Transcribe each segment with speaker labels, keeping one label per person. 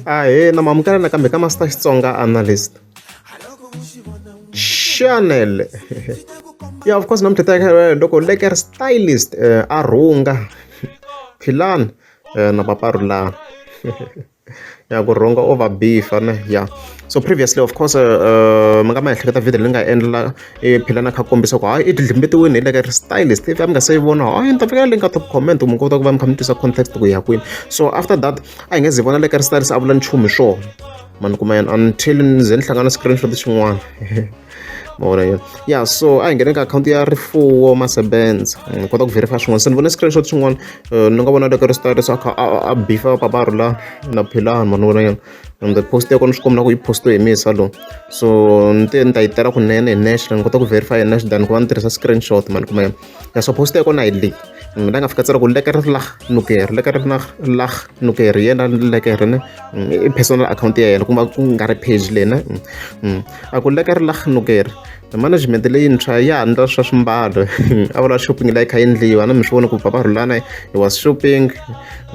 Speaker 1: ahena mamukela nakambe ka master xitsonga analyst chanel ya of course namuntlha ta loko leker stylist uh, a rhunga philani uh, eh, na paparulani ya ku rhunga over b fane ya so previously of course uh, mi nga ma ehleketa video leyi nga endla i phela na kha kombisa ku hayi i dlimbetiwini hi le ka ri stylist if a mi nga se yi vona hayi ni ta fika le ka top comment mi kota ku va mi kha mi twisa context ku ya kwini so after that a hi nge zi vona le ka ri stylist a vula nchumu hi swona mani kuma yena until ni ze ni hlangana screenshot xin'wana ma vona yona ya so a hi nghene ka akhawunti ya rifuwo masebenza ni kota ku verify swin'wana se ni vone screenshot xin'wana eh, ni nga vona le ka ri stylist a kha a bifa paparhu la na philani mani vona yona ende post ya kona swi kombela ku yi postiwe hi misa lowu so ni te ni ta yi tela kunene hi nexe ni kota ku verify hi nexe than ku va ni tirhisa screenshot mani kumbe ya so post ya kona hi leyi ni la nga fika tsela ku leke ri lah nuker leke ri na lah nuker yena leke ri ne i personal account ya yena kuma ku nga ri page lena a ku leke ri lah nuker management leyintshwa ya ha ndla swa swimbalo a vula shopping la yi kha yi ndliwa na mi swi vona ku bava rhulana i was shopping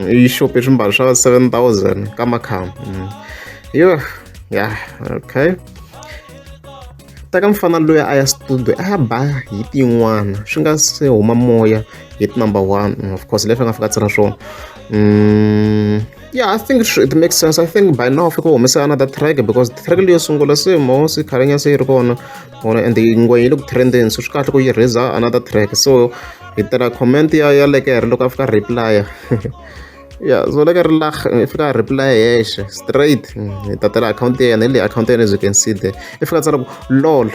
Speaker 1: yi shope swimbalo swa seven thousand ka makhamba mm. yo ya okay teka mfana loyi a ya studio a ya ba hi tin'wana swi nga se huma moya hi number one mm, of course leswi a nga fika tsira swona mm. yeah i think it, it makes sense i think by now fika humesa another track because track leyo sungula se mosi khalenya se yi ri kona ona and yingwe yi le ku trendeni so swi kahle ku yi raiser another track so hi tela comment ya ya lekere loko a fika reply ya so leke ri lah i fika reply hexe straight hi tatela akhawunti ya yena hi leyi akhawunti ya yena as you can see there i fika tsala ku lol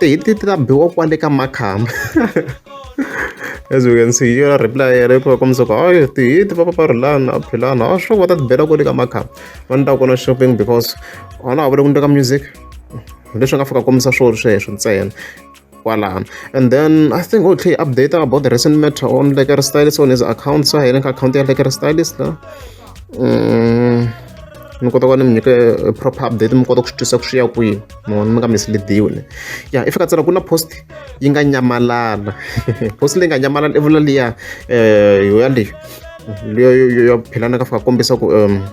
Speaker 1: hi ti ta biwa kwale ka makhamba as we can see yona reply ya repo ka muzoko hayi tihiti va paparhulana a philana a sure va ta tibela kwale ka makhamba va ni ta kona shopping because ona a vule ku ni ka music leswi nga fika kombisa swolo sweswo ntsena kwalano and then i think okay update about the recent matter on lekere stylist on his account sa hina ka account ya lekere stylist la mm, mi kota ku va ni mi nyike eh, proper update mi kota ku swi twisa ku swi ya kwihi mo mi nga misleadiwi ne ya i fika tsela ku na post yi nga nyamalala post leyi nga nyamalala i vula liya um yoya leyi leyo philana ka fika kombisa ku um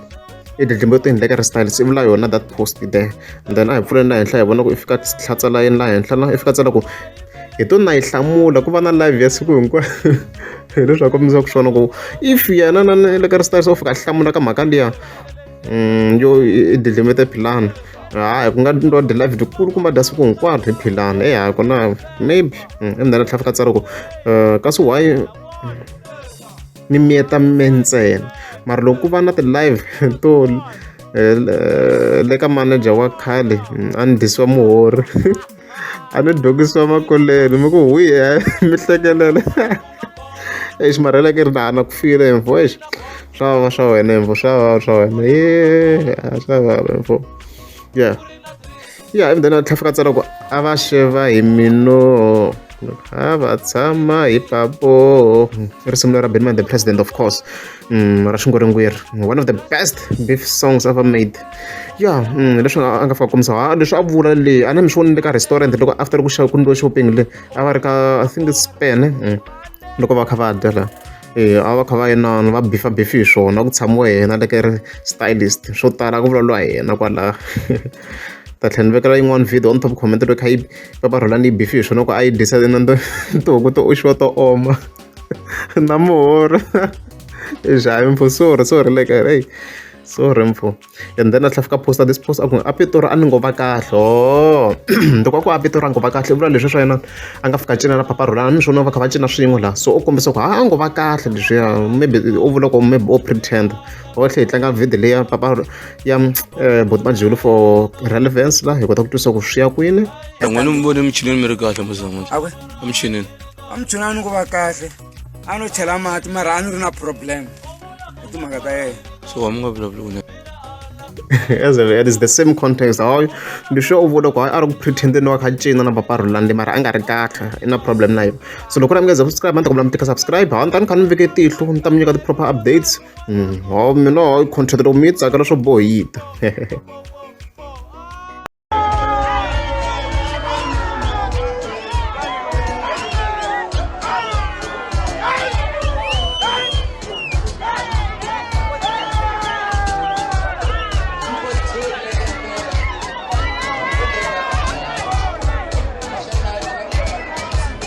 Speaker 1: i dlidlimbo to endleka restyle se vula yona that post there and then a hi pfuleni laha henhla hi vona ku i fika tlhatsa layeni laha henhla la i fika tsela ku hi to na yi hlamula ku va na live ya siku hinkwayo Hi leswi a kombisaka swona ku if yena na na le ka o fika a hlamula ka mhaka liya yo i delimete philani hayi ku nga twa delaved kulu kumbe dya siku hinkwaro hi philani e hayi kona maybe endzhaku tlhela fika tsara ku kasi why ni miyeta me ntsena mara loko ku va na ti-live to le ka manager wa khale a ni dyisiwa muhorhi. a ni dogisiwa makoleni mi ku hui mi hlekelele exi marheleke ri na ku file info exi swa vava swa wena info swa vava swa wena ye swa vava info ya ya ivi then a tlhafika tsala ku a va xeva hi mino a va tshama hi papo i risimu lera benman the president of course mm, ra xingoringweri one of the best beef songs ever made ya mm, leswi a nga fika komisa ha leswi a vula le a na mi swi vonile ka restaurant loko after ku xava ku ndliwa shopping le a va ri ka i think it's span mm, loko va kha va dya la eh, a va kha va yenana va bifa bifi hi swona ku tshamiwa yena leke ri stylist swo tala ku vulavuriwa hi yena kwalaha ta tlhela ni vekela yin'wana video on top comment loko kha yi papa rhola ni yi bifi hi swona ku a yi dyisa na tihuku to oxiwa to oma na muhoro xavi mpfhu sorry sorry like hey sorry mpfhu and then a tlhela fika posta this post a ku a pitori a ni ngo va kahle o oh. loko a ku a pitori a ngo va kahle i vula leswi swa yena a nga fika cina na papa rhola ni swona va kha va cina swin'we laha so u kombisa ku ha a ngo va kahle leswiya maybe u vula ku maybe o pretend botlhe hi tlanga video leyi ya papa ya eh, boti majulu for relevance la hi kota ku twisa ku swi ya kwini n'wina mi vone emichinini
Speaker 2: mi ri kahle muzama emichinini amchuni a ni
Speaker 3: ku va kahle a no chela mati mara a ni ri na problem hi timhaka ta yena so wa mi nga vulavuli
Speaker 1: as if it is the same context hawu ndi sure u vona ku hayi a ri ku pretendeni wa kha cina na papa rulande mara a nga ri kahle i na problem na yona so loko na mi nga ze subscribe a ni ta kombela mi tika subscribe hawu ni ta ni kha ni veke tihlo ni ta mi nyika ti-proper updates mm, hawu mina hawu contract loko mi yi tsakela swo bohita